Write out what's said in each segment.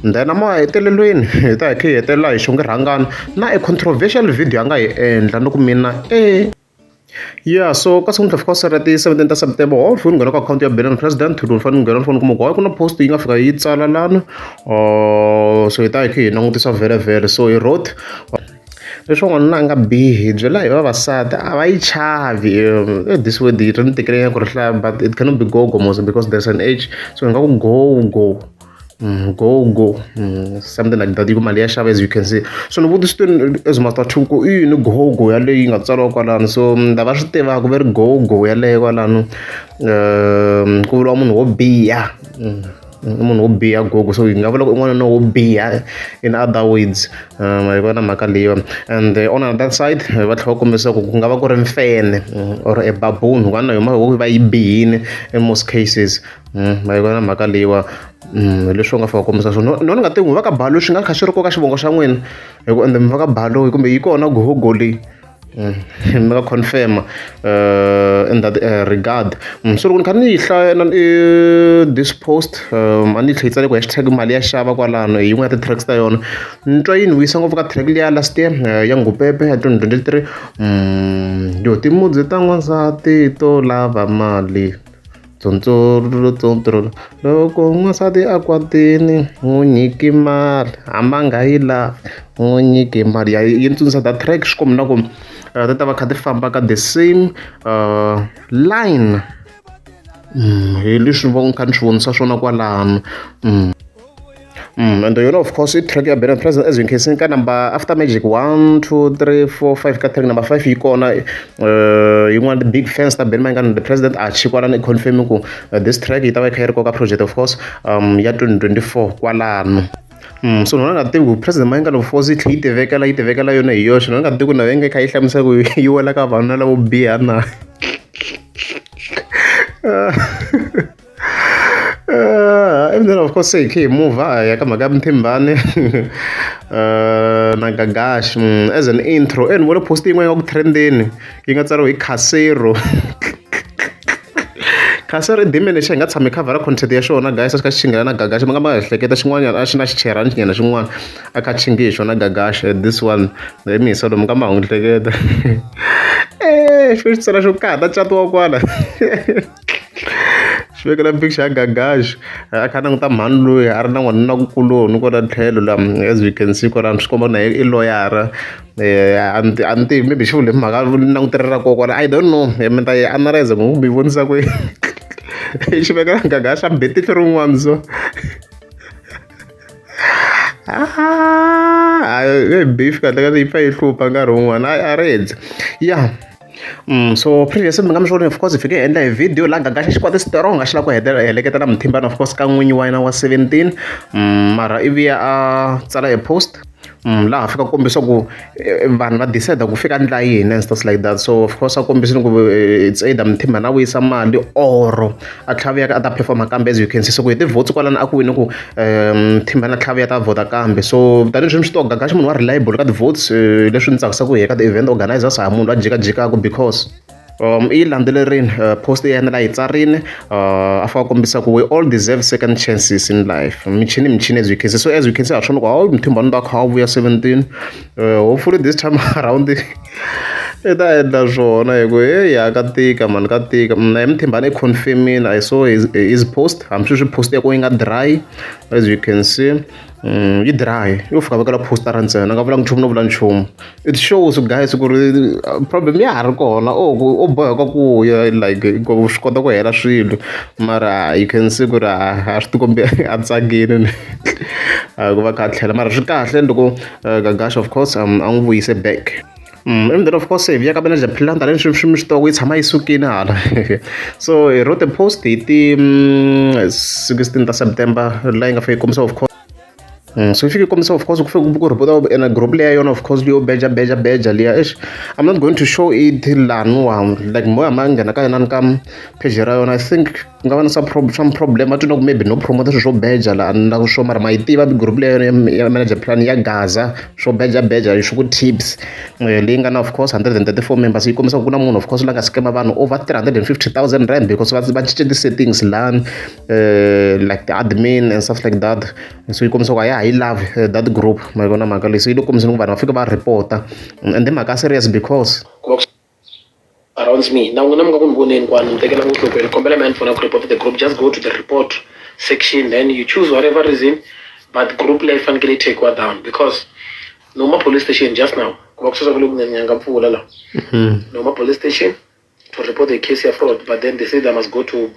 Then emahetelelweni hi ta hi kha hi hetelela hi xonge rhangana na e controversial video a nga yi endla ni ku mina e ya so ka siku ni ta fika sara ti seventeen ta september wa fika ni nghena ka akhawunti ya benin president ni fanele ni nghena ni fanele kuma ku hayi ku na post yi nga fika yi tsala lana or so hi ta hi kha hi langutisa vhele vhele so hi road leswi n'wanuna a nga bihi byela hi vavasati a va yi chavi e this way ri ni tekelenya ku ri hlaya but it cannot be go go mos because there's an age so hi nga ku go go Mm, go go mm, something like that yi ku mali ya xava as you can see so ni vutisitweni as master two ku i yini go go yaleyo yi nga tsariwa kwalano so mm, lava swi tivaka va ri go go yaleyo kwalano um ku vuriwa munhu wo biha munhu wo biha gogo so yi nga vula ku i n'wanuna wo biha in other words um hi vona mhaka leyo and eh, on another side eh, va tlhela va kombisa ku ku nga va ku ri mfene mm, or a baboon hikuva na yona va yi bihile in most cases ma yi vona mhaka leyiwa leswi u nga fika kombisa swona no ni nga tivi ku va ka balo swi nga kha swi ri koka xivongo xa n'wina hi ku ende mi va ka balo kumbe yi kona gogo leyi mi nga confirm in that regard so loko ni kha ni yi hlaya na this post a ni yi tlhe yi tsale ku hashtag mali ya xava kwalano hi yin'wana ya ti-tracks ta yona ni twa yi ni vuyisa ngopfu ka track liya last year ya ngupepe ya twenty twenty three yo timudzi ta n'wansati to lava mali loko n'wansati a kwatile n'wi nyiki mali hambi a nga yi lavi n'wi nyiki mali ya yi ni tsundzuxa the track swi kombela ku ti ta va kha ti famba ka the same line hi leswi ni va ni kha ni swi vonisa swona kwalano . and yone of course i track ya bena present as you can see ka number after magic one two three four five ka track number five yi kona uh, yin'wana big fans ta bena mayingana the president a chi kwalana i confirm ku uh, this track yi ta va yi kha yi ri koka project of course um ya 2024 kwalano Mm, so nona nga tivi ku president mayingana force yi tlhe yi tivekela yi tivekela yona hi yoxe nona nga tivi ku na venge kha yi hlamusa ku yi wela ka vanhu na lavo biha na Uh, and then of course ikhe imuva yaka mhaka ya muthimbane uh, na gagash mm, as an intro and vona post yin'wana ya ku trendeni yi nga tsariwa hi casero casero i dimene xa hi nga tshami khavhara content ya xona guys a xi kha xi chingela na gagash ma nga ma ehleketa xin'wanyana a xi na xicherhani xinyana xin'wana a kha chingi hi xona gagash this one hi mi hisa lomu ka mahungu hleketa e xo xi tsala xo kaha ta catiwa kwala swi vekela picture ya Gagax a kha a languta mhani loyi a ri na n'wanuna kuloni kwala tlhelo la as we can see kwalano swi komba na yena i loyara a ni a ni tivi maybe xi vula hi mhaka langutelo ra koho kwala I don't know mi ta yi analyser ku mi yi vonisa ku yini xi veka Gagax a be tihlo rin'wana so a beef kahlekahle yi pfa yi hlupha nkarhi wun'wana a a ri dyi ya. so previous mi nga mi swi vona of course hi fike hi endla hi video laha gaga xa xikwadi strong a xi lava ku hetelela heleketa na muthimbana of course ka n'winyi wa yena wa 17 mara i vuya a tsala hi post laha fika kombisa ku vanhu va decide ku fika ndla yini and stuff like that so of course a kombisini ku it's either muthimbana a vuyisa mali or a tlhaviyaka a ta perform-a kambe as you can see so ku hi ti-votes kwalano a ku wini ku um thimbana tlhaviya ta vhota kambe so tanihi sweswi swi to gagaxa munhu wa reliable ka ti-votes eh, leswi ni tsakisaka hi ka ti-event organizers ha munhu la jikajikaka because um i landzelerini uh, post ya yena la yi tsarini uh, a fa kombisa ku we all deserve second chances in life michini michini as you can see so as you can see ha swona ku hawu mthimbano ta kha wu vuya 17 Hopefully this time around i ta endla swona hi ku heyi ha ka tika mani ka tika mna hi muthimbani i confirmini i saw his, his post hambi swi swi post ya ku yi nga dry as you can see Mm, yi dry yo fika vekela postara ntsena nga vulanga nchumu no vula nchumu it shows guys ku ri uh, problem ya ha ri kona o ku o boheka ku ya like ku swi kota ku hela swilo mara you can see ku ri a swi tikombi a tsakile a ku va kha a tlhela mara swi kahle loko uh, gagash of course um, a n'wi vuyise back Mm, and then of course hi viyaka manager philanda leni swi swi mi swi toko yi tshama yi sukile hala so hi wrote a post hi ti mm, 16 ta september laha yi nga fika yi kombisa of course Mm, so ifike ikomisa of course kufike ku report and a group leya yona of course liyo beja beja beja liya eish i'm not going to show it laniwa like moya ma nghena ka yona ni ka page ra yona i think Ku nga va na swa swa problem va twa ingaku maybe no promote-a swilo swo beja la a ni lava swona mara ma yi tiva group leyi ya ya manager plan ya gaza swo beja beja hi swa ku tips leyi nga na of course hundred and thirty four members yi kombisa ku ku na munhu of course la nga scam vanhu over three hundred and fifty thousand rand because va va cince ti-settings lani like ti-admin and stuff like that so yi kombisa ku a ya ha yi lavi that group ma yi vona mhaka leyi se yi le ku kombiseni ku vanhu va fika va report-a ende mhaka ya serious because ku va ku. around me na n'wina mi nga ku ni voneni kwani mi tekela ngo hlokweni kombela mi handphone ya ku report the group just go to the report section then you choose whatever reason but group leyi fanekele yi takiwa down because noma police station just now ku va ku sweswa ku le ku nyanyanga mpfula la mm-hmm. noma police station to report the case ya fraud but then they say they must go to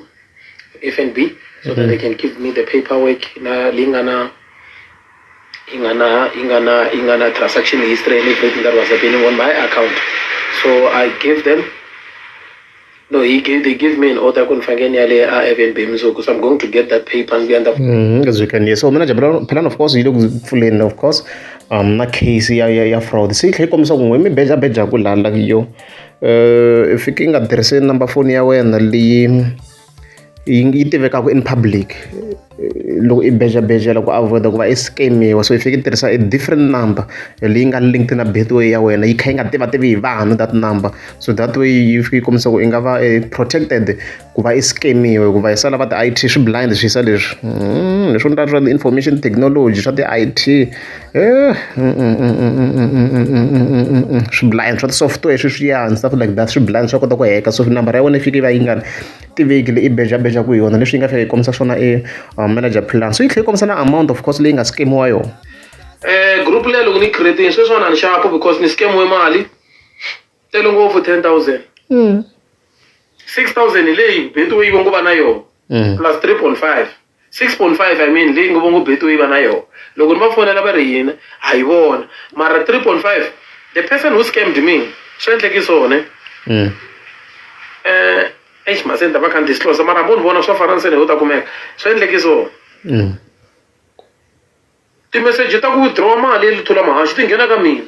f n b so that they mm-hmm. can give me the paperwork na leyi nga na yi nga na yi nga na yi nga na transaction history ya le banking that was happening on my account so i gave them no he gave they give me an order ku ni fanekele ni ya le a fnb mundzuku so i'm going to get that paper ndzi endla ngizwikaniye so mina jabulani plan of course yi le ku pfuleni of course um na case ya ya ya fraud se yi tlhe yi kombisa ku n'we mi beja beja ku lala yo um i fike yi nga tirhisi number phone ya wena leyi yi yi tivekaka in public loko i bejabeja loko a vhota ku va i scam-iwa so i fike i tirhisa a different number leyi nga linked na betway ya wena yi kha yi nga tivativi hi vanhu that number so that way yi fike yi kombisa ku i nga va i protected ku va i scam-iwa hikuva hi sala va ti-I_T swi blind swi yisa leswi leswo ni ta swa ti-information technology swa ti-I_T. swiblind swa ti-software sweswiyani stuff like that swiblind swa kota ku heka so nambara ya wena yi fike yi va yi nga tivekile i bejabeja ku yona leswi yi nga tlhela yi kombisa swona e um, manager plan so yi tlhela yi kombisa na amount of course leyi nga skemiwa yona um group leyi loko ni yi creatini sweswiwani a ni xapo because ni skemiwe mali tele ngopfu 10000 mm. 6000 hi leyi betway va ngo va na yona mm. plus 3.5 6.5 i mean leyi ngo va ngo betway va na yona loko ni va fonela va ri yini a yi vona mara 3.5 the person who scammed me swi endleki swone mm. eh eish masenda va khanti sihlosa mara munhu vona swa fana nsene ho ta kumeka swi endleki swona mm. timeseji ta ku withdraw mali yi lithula mahaxi ti nghena ka mina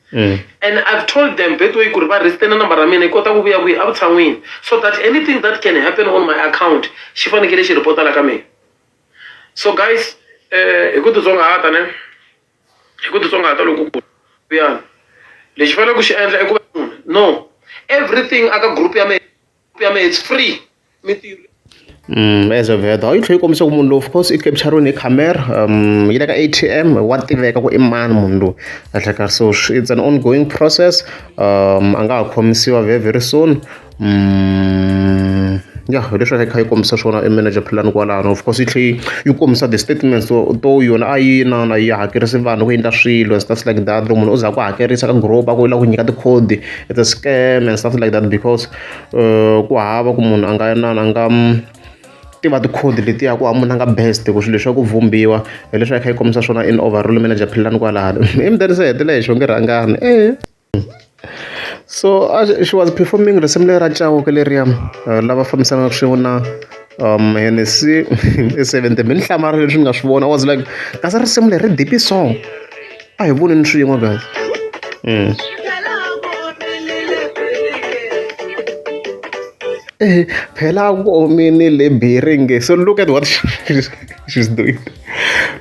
Mm. and i've told them by the way ku ri va restena number ra mina yi kota ku vuya kwihi evutshan'wini so that anything that can happen on my account xi fanekele xi reporta la ka mina so guys eh, hi ku titsongahata ne hi ku titsongahata lokukulu kuyani lexi fanele ku xi endla i ku va munhu no everything aka group ya mina ya mehe it's free mintirho Mm, as a vedo yi tlhela yi kombisa ku munhu lowu of course i capturini hi camera um yi le ka a t m wa tiveka ku i mani munhu lowu ehlekar so it's an ongoing process um a nga ha khomisiwa very very soon um ya hi leswi a kha yi kombisa swona i manager philani kwalano of course yi tlhela yi kombisa the statements to to yona a yi na na yi hakerisi vanhu ku endla swilo and stuff like that loko munhu u za ku hakerisa ka group a ku yi lava ku nyika tikhodi it's a scam and something like that because uh, ku hava ku munhu a nga na a nga tiva tikhodi letiya ku amuna nga best ku swilo leswaku vumbiwa hi leswi a kha yi kombisa swona in overall manager philani kwalano emdani se hetile hi xonge rhangani e so uh, she was performing risimu leri ra cawuke leriya uh, lava fambisanaka swin'we na um henesi e seventy mi ni hlamarile leswi ni nga swi vona i was like kasi risimu leri ri deep song a hi voneni swin'we guys mm. eh, phela ku omini le biringe so look at what she's doing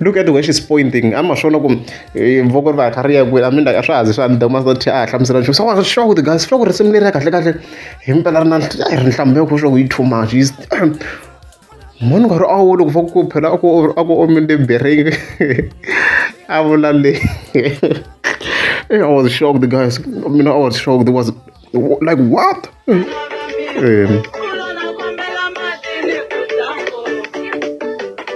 look at where she's pointing ama swona ku eh, voko ri va kha ri ya kwini a mi ndaka swa hazi swa ndaka ma sothi a hlamusela nchumu swa swa ku guys swa ku risimu leri ya kahle kahle hi mpela ri na ri nhlamulo ya ku swa ku yi too much munhu nkarhi a wu loko va ku phela a ku a ku omile mbirhingi a vula le i was shocked guys mina i was shocked was like what um,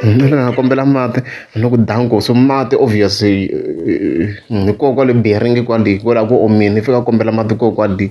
mina na kombela mati ni ku danko so mati obvious eh, eh, ni ko kwale biringi kwale kwala ku omini fika kombela mati ko kwale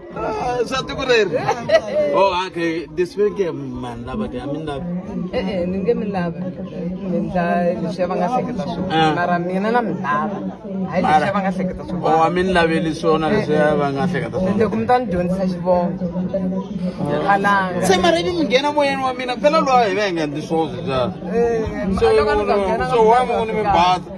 swa tiko reri o okay this week mani lava ti a mi lava e-e ni nge mi lava mi ndla leswi va nga hleketa swona ah. mara mina na mi lava hayi leswi va nga hleketa swona o a mi ni laveli swona leswi va nga hleketa swona loko mi ta ni dyondzisa xivongo alanga se mara ivi mi nghena moyeni wa mina phela lowa hi va hi nga ndli swona swi bya so wa munhu mi bata